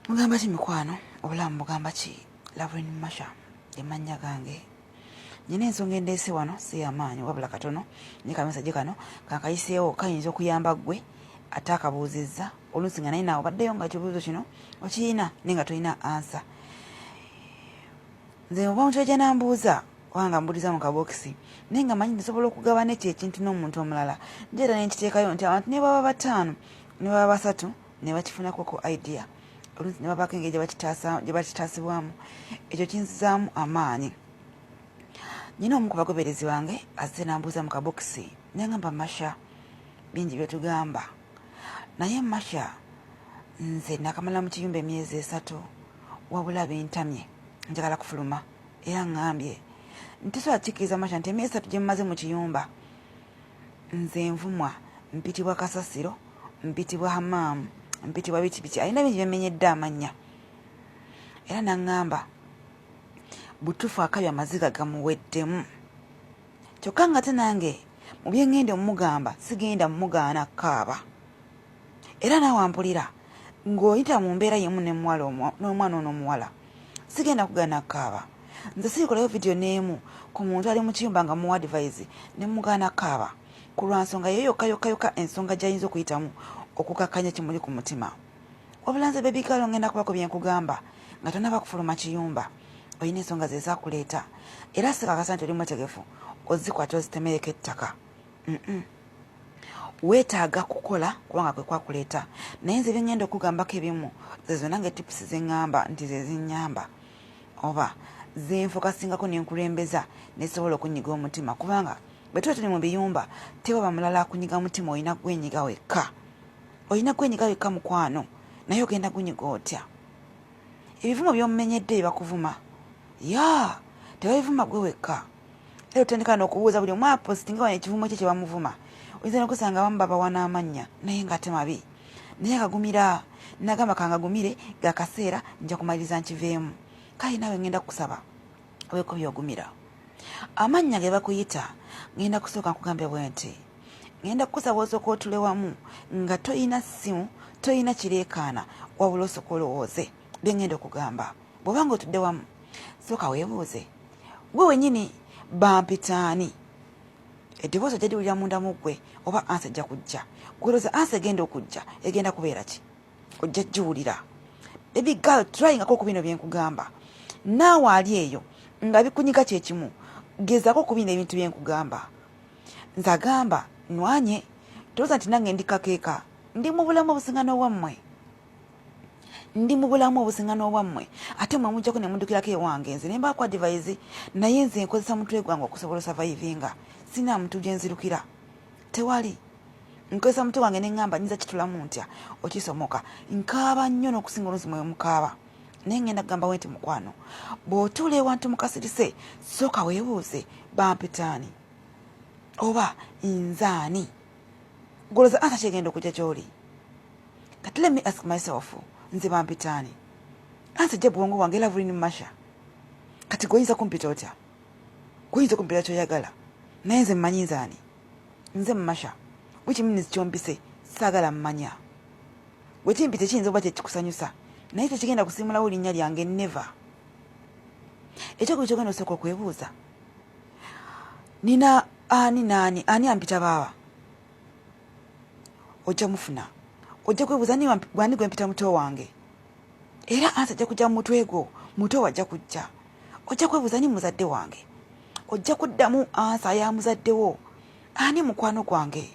mugamba ki mikwano obulamu mugamba ki lavrin masha emannya gange nyina ensonga endeese wano si yamaanyi wabula katono ne kamisaje kano kankayiseewo kayinza okuyamba ggwe ate akabuuzizza oluusi nga naye naawe obaddeyo nga kibuuzo kino okiyina naye nga tolina ansa nze oba omuntu ajja nambuuza kubanga mbuliza mu kabokisi naye nga manyi nsobola okugabana ekyo ekintu n'omuntu omulala njeera nenkiteekayo nti abantu nebaba bataano ne baba basatu ne bakifunako ku idea oluusi ne babaako engeri gye bakitaasibwamu ekyo kinzizaamu amaanyi nyina omu ku bagoberezi bange azze nambuuza mu kabokisi nengamba masha bingi byetugamba naye masha nze nakamala mu kiyumba emyezi esatu wabula bintamye njagala kufuluma era ngambye ntisobola kikkiriza masha nti emyezi esatu gye mumaze mu kiyumba Nze nvumwa, mpitibwa kasasiro, mpitibwa hamaamu, mpitibwa biki biki, alina bingi byemmenyedde amannya era n'aŋŋamba butuufu akabi amaziga gamuweddemu kyokka ng'ate nange mu bye ŋŋenda omumugamba sigenda mumugaana kaaba. era naawe ampulira ng'oyita mu mbeera yemu nemuwala n'omwana ono omuwala sigenda kugana kaaba nze sirikolayo vidiyo n'emu ku muntu ali mu kiyumba nga muwa adivaizi ne mugaana kaaba ku lwa nsonga ye yokka yokka yokka ensonga gy'ayinza okuyitamu okukakkanya kimuli ku mutima wabula nze bebigaalo ngenda kubako bye nkugamba nga tonaba kufuluma kiyumba olina ensonga ze zakuleeta era sikakasa nti oli mwetegefu ozikwata ozitemereko ettaka weetaaga kukola kubanga kwe kwakuleeta naye nze byengenda okugambako ebimu zezo nange tipusi zeŋŋamba nti ze zinnyamba oba zenfokasingako ne nkulembeza nesobola okunyiga omutima kubanga bwe tuba tuli mu biyumba tewaba mulala akunyiga mutima olina gwenyiga wekka olina gwenyiga wekka mukwano naye ogenda gunyiga otya ebivumo byomumenyedde byebakuvuma ya tebabivuma gwe wekka era otandika nokubuuza buli omu apositinga wano ekivumo kye kyebamuvuma oyinza nokusanga abamu babawa n'amannya naye nga ate mabi naye akagumira nagamba kangagumire gakaseera nja kumaliriza nkiveemu kale nawe ngenda kukusaba wekubye ogumira amannya ge bakuyita ngenda kusooka nkugambye bwe nti ngenda kukusaba osooka otule wamu nga toyina ssimu toyina kireekaana wabula osooka olowooze bye ngenda okugamba bw'oba nga otudde wamu sooka weebuuze gwe wenyini bampitaani eddoboozi ojja liwulira munda mu ggwe oba ansi ejja kujja gweroza ansi egenda okujja egenda kubeera ki ojja jiwulira baby girl tryingako ku bino byenkugamba naawe ali eyo nga bikunyiga kyekimu gezako ku bino ebintu byenkugamba nze agamba nwanye tolooza nti nange ndi kakeeka ndi mu bulamu obusingana obwammwe ndi mu bulamu obusingana obwammwe ate mwe mujjako ne mudukirako ewange nze nemba ku adivaizi naye nze nkozesa mutwe gwange okusobola osavaivinga sina muntu gyenzirukira tewali nkozesa mutwe wange neŋŋamba nyinza kitulamu ntya okisomoka nkaaba nnyo n'okusinga oluusi mwe mukaaba naye ŋŋenda kugamba we nti mukwano bw'otuula ewantu mukasirise sooka weebuuze bampitaani oba nzaani goloza ansa kyegenda okujja gy'oli kati let me ask myself nze bampitaani ansa jja bwongo bwange lavulini masha kati gwoyinza kumpita otya kuyinza okumpera kyoyagala naye nze mmanyi nze ani nze masha which means kyompise saagala mmanya gwe kimpise kiyinza okuba kyekikusanyusa naye tekigenda kusimulawo linnya lyange never ekyokuba kyogenda osooka okwebuuza nina ani naani ani ampita baaba ojja mufuna ojja kwebuuza gwani gwempita muto wange era ansi ajja kujja mu mutwe gwo muto wajja kujja ojja kwebuuza ni muzadde wange ojja kuddamu ansa ya muzaddewo ani mukwano gwange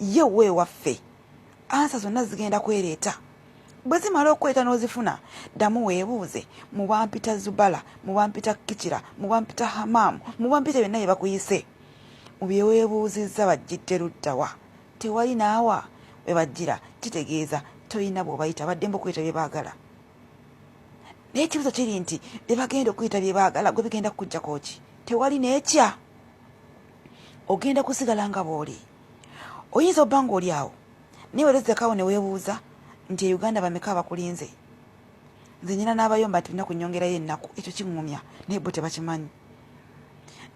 ye weewaffe ansa zonna zigenda kwereeta bwe zimala okweta n'ozifuna ddamu weebuuze mu bampita zubala mu bampita kicira mu bampita hamaamu mu bampita byonna bye bakuyise mu bye weebuuzizza bajjidde luddawa tewali naawa we bajjira kitegeeza tolina bw'obayita badde mba okuyita bye baagala naye ekibuzo kiri nti bebagenda okuyita byebagala gwe bigenda kukujjako ki tewali nekya ogenda kusigala nga bwoli oyinza obba nga oli awo naye werezekawo newebuuza nti e uganda bameka abakulinze nze nyina n'abayomba nti olina kunyongerayo ennaku ekyo kiŋŋumya naye bo tebakimanyi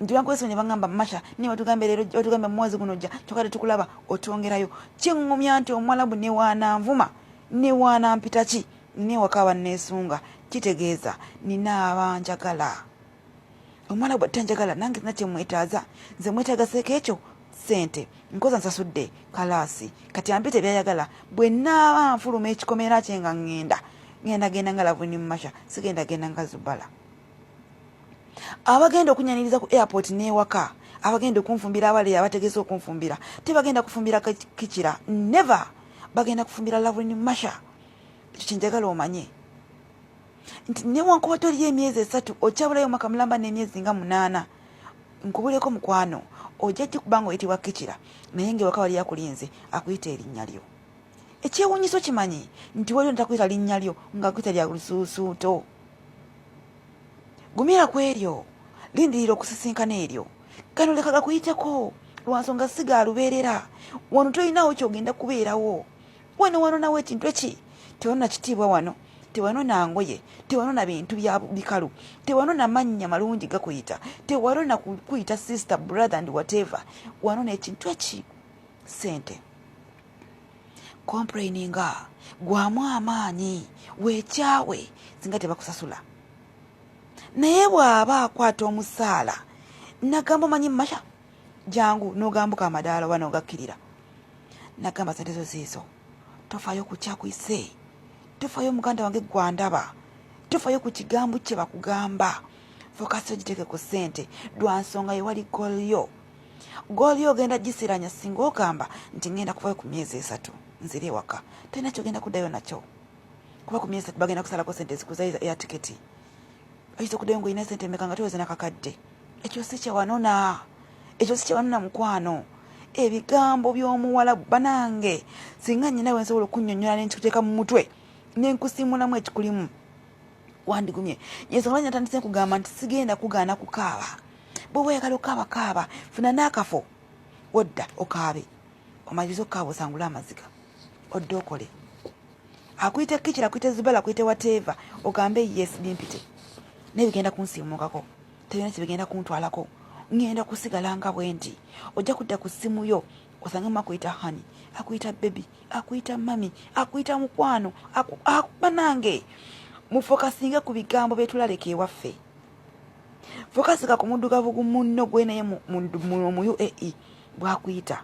nti bankwesi ne baŋŋamba masha naye watugambe leero watugambe mumwezi guno jja kyoka tetukulaba otwongerayo kiŋŋumya nti omwalabu newaananvuma newaanampita ki ne waka banneesunga kitegeeza nina aba njagala omwana bwatta njagala nange sina kyemwetaaza nze mwetaagaseeko ekyo ssente nkoza nsasudde kalaasi kati ampite byayagala bwe naaba nfuluma ekikomera kye nga ŋŋenda ŋenda genda nga lavuni mumasha sigenda genda nga zubala abagenda okunyaniriza ku airport n'ewaka abagenda okunfumbira abaleya abategeesa okunfumbira tebagenda kufumbira kikira never bagenda kufumbira lavuni mumasha ekyo kyenjagala omanye nti newankuba toliyo emyezi esatu okyabulayo omwaka mulamba n'emyezi nga munaana nkubuleko mukwano ojja kikuba nga oyitibwa kikira naye ngaewaka wali akulinze akuyita erinnya lyo ekyewunyiso kimanyi nti waliwo netakuyita linnya lyo nga akuyita lya lusuusuuto gumira ku eryo lindirira okusisinkana eryo kano leka gakuyiteko lwansonga siga alubeerera wano tolinaawo kyogenda kubeerawo wano wano nawe ekintu eki tewano kitiibwa wano tewano nangoye tewano na bintu bya bikalu tewano na mannya malungi gakuyita tewano na kuyita sister brother and whatever wano nekintu eki sente complaininga gwamu amaanyi wekyawe singa tebakusasula naye bw'aba akwata omusaala nagamba omanyi masha jangu nogambuka amadaala oba nogakkirira nagamba sente zo ziizo tofayo kukyakuyise tofayo muganda wange gwandaba tofayo ku kigambo kye bakugamba fokasi ogiteeke ku sente lwansonga yewali golyo golyo ogenda gisiranya singa ogamba nti ngenda kuvayo ku myezi esatu nzira ewaka tolina kyogenda kuddayo nakyo kuba ku myezi esatu bagenda kusalako sente ezikuza eya tiketi oyinza okudayo nga olina sente emeka nga toyoza nakakadde ekyo si kyewanona ekyo si kyewanona mukwano ebigambo by'omuwala banange singa nyina we nsobola okunyonyola nenkikuteeka mu mutwe nenkusimulamu ekikulimu wandigumye yensonga lwaki natandise nkugamba nti sigenda kugaana kukaaba bwoba oyagala okaaba kaaba funa n'akafo odda okaabe omaliriza okukaaba osangule amaziga odde okole akuyite kicira akuyite zibala akuyite wateeva ogambe yes bimpite naye bigenda kunsiimukako tebina kyebigenda kuntwalako ngenda kusigala nga bwendi ojja kudda ku ssimu yo osangemu akuyita hani akuyita bebi akuyita mami akuyita mukwano banange mufokasinge ku bigambo byetulaleka ewaffe fokasika ku muddugavu gu munno gwenaye mu uae bwakuyita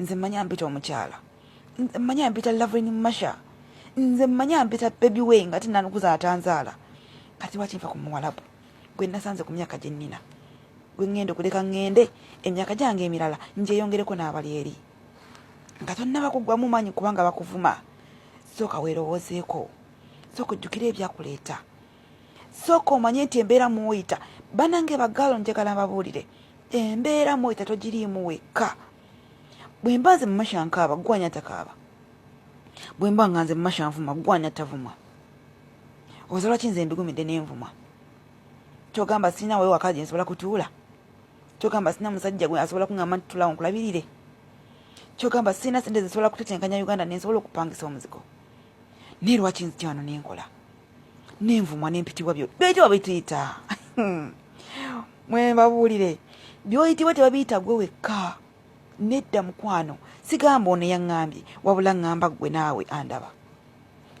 nze manya mpita omukyala nze manya mpita lavrin masha nze manya mpita bebi we nga tinanukuza atanzaala kati lwaki nfa ku muwalabu gwe nasanze ku myaka gye nnina gwe ŋŋenda okuleka ŋŋende emyaka gyange emirala ngyeyongereko n'abali eri nga tonnaba kuggwamu maanyi kubanga bakuvuma sooka weerowoozeeko sooka ojjukire ebyakuleeta sooka omanye nti embeera mwoyita banange bagaalo njagala mbabuulire embeera mwoyita togiriimu wekka bwe mba nze mumasha nkaaba gwanya takaaba bwe mba nga nze mumasha nvuma gwanya tavuma oza lwaki nze mbigumidde nenvuma kyogamba sirina wawe waka gye nsobola kutuula kyogamba sirina musajja gwe asobola kuŋamba nti tulawo nkulabirire kyogamba sirina sente zesobola kutetenkanya uganda nensobola okupangisa omuzigo naye lwaki nzikyano nenkola nenvumwa nempitibwa byo byoyitibwa bituyita mwebabuulire byoyitibwa tebabiyita gwe wekka nedda mukwano sigamba ono yaŋŋambye wabula ŋŋamba ggwe naawe andaba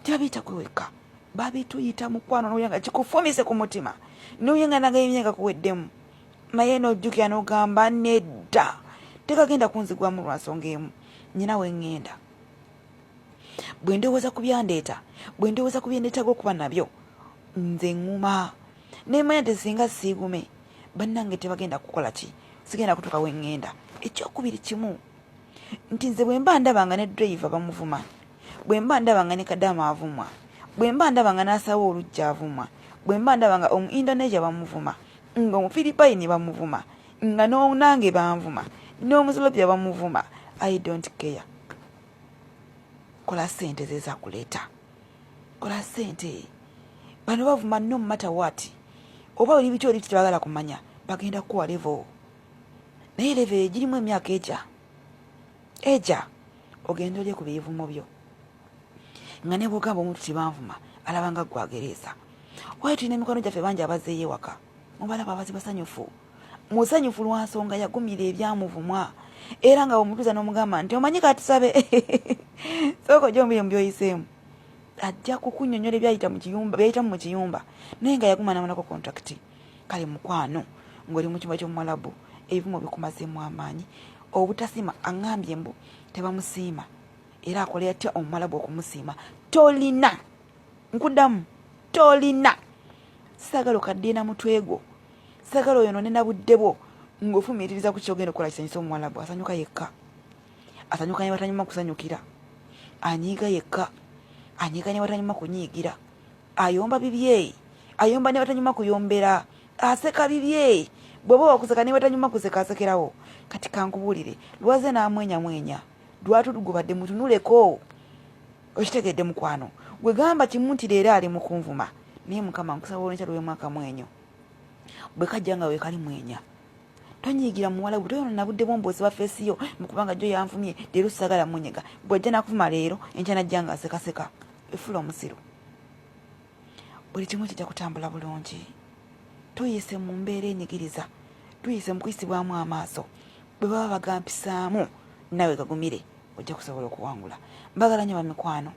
tebabiyita gwe wekka babituyita mukwano nowulira nga kikufumise ku mutima nowulira nga nagayo emyaka kuweddemu naye nojjukira nogamba nedda tekagenda kunzigwamu lwa nsonga emu nyina we ŋŋenda bwe ndowooza ku byandeeta bwe ndowooza ku byendeetaga okuba nabyo nze ŋŋuma nemanya nti singa siigume bannange tebagenda kukola ki sigenda kutuuka we ŋŋenda ekyokubiri kimu nti nze bwe mba ndaba nga ne drayiva bamuvuma bwe mba ndaba nga ne kadaama avumwa bwe mba ndaba nga n'asaawo olujja avumwa bwe mba ndaba nga omu indonesia bamuvuma nga omufiribayini bamuvuma nga nonange banvuma nomuzilobya bamuvuma i don't care kola sente zeza kuleta kola sente bano bavuma no matter what oba oli bityo oli tebagala kumanya bagenda kuwa levo naye levo egirimu emyaka eja eja ogenda olye ku bivumo byo nga nebwogamba omuntu tebanvuma alabanga gwagereesa waye tulina emikwano gyaffe bangi abazeeyo ewaka mubalaba abazi basanyufu musanyufu lwa nsonga yagumira ebyamuvumwa era nga bwemutuza n'omugamba nti omanyi katusabe sooka ojombire mu byoyiseemu ajja kukunyonyola ebyayita mukiyumba byayitamu mu kiyumba naye nga yaguma namalako kontrakiti kale mukwano ng'oli mu kyumba ky'omuwalabu ebivumo bikumazeemu amaanyi obutasiima aŋambye mbu tebamusiima era akola yatya omuwalabu okumusiima tolina nkudamu tolina sagala okaddiina mutwe gwo sagala oyo nonena budde bwo ngaofumiitiriza ku kyogenda okukola kisanyusa omuwala gwe asanyuka yekka asanyuka ne batanyuma kusanyukira anyiiga yekka anyiiga ne batanyuma kunyiigira ayomba bibye ayomba ne batanyuma kuyombera aseka bibye bweba wakuseka ne batanyuma kuseka asekerawo kati kankubuulire lwaze n'amwenyamwenya lwatudugubadde mutunuleko okitegedde mukwano gwe gamba kimu nti leero ali mukunvuma naye mukama nkusaba olwenkya lwemwaka mwenyo bwe kajja nga wekali mwenya tonyigira muwala gwe toyona nabudde bwomba osiba feesi yo mukubanga jjo yanvumye leero sagala munyega bwajja nakuvuma leero enkya najja nga asekaseka efula omusiru buli kimu kijja kutambula bulungi tuyise mu mbeera enyigiriza tuyise mu kuyisibwamu amaaso bwe baba bagampisaamu nawe gagumire ojja kusobola okuwangula mbagala nyo bamikwano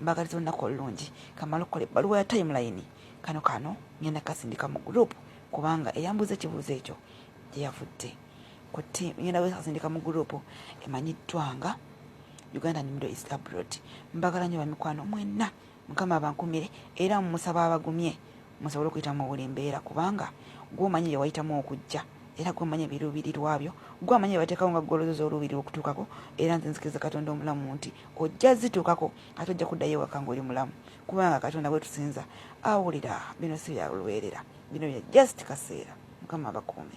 mbagaliza olunaku olulungi kamala okukola ebbaluwa ya timeline kano kano ngenda kasindika mu gurupu kubanga eyambuuza ekibuuzo ekyo gyeyavudde ku tiimu ngenda wekasindika mu gurupu emanyiddwanga uganda nimiro is abroad mbagala nyo bamikwano mwenna mukama abankumire era mumusaba abagumye musobole okuyita mu buli mbeera kubanga gwomanyi bye wayitamu okujja era gwamanya ebiruubirirwa byo gwamanya ebateekawo nga gwolozoza oluubiri okutuukako era nze nzikiriza katonda omulamu nti ojja zituukako ate ojja kuddayo ewaka ngaoli mulamu kubanga katonda gwetusinza awulira bino si byalweerera bino bya just kaseera mukama abakuume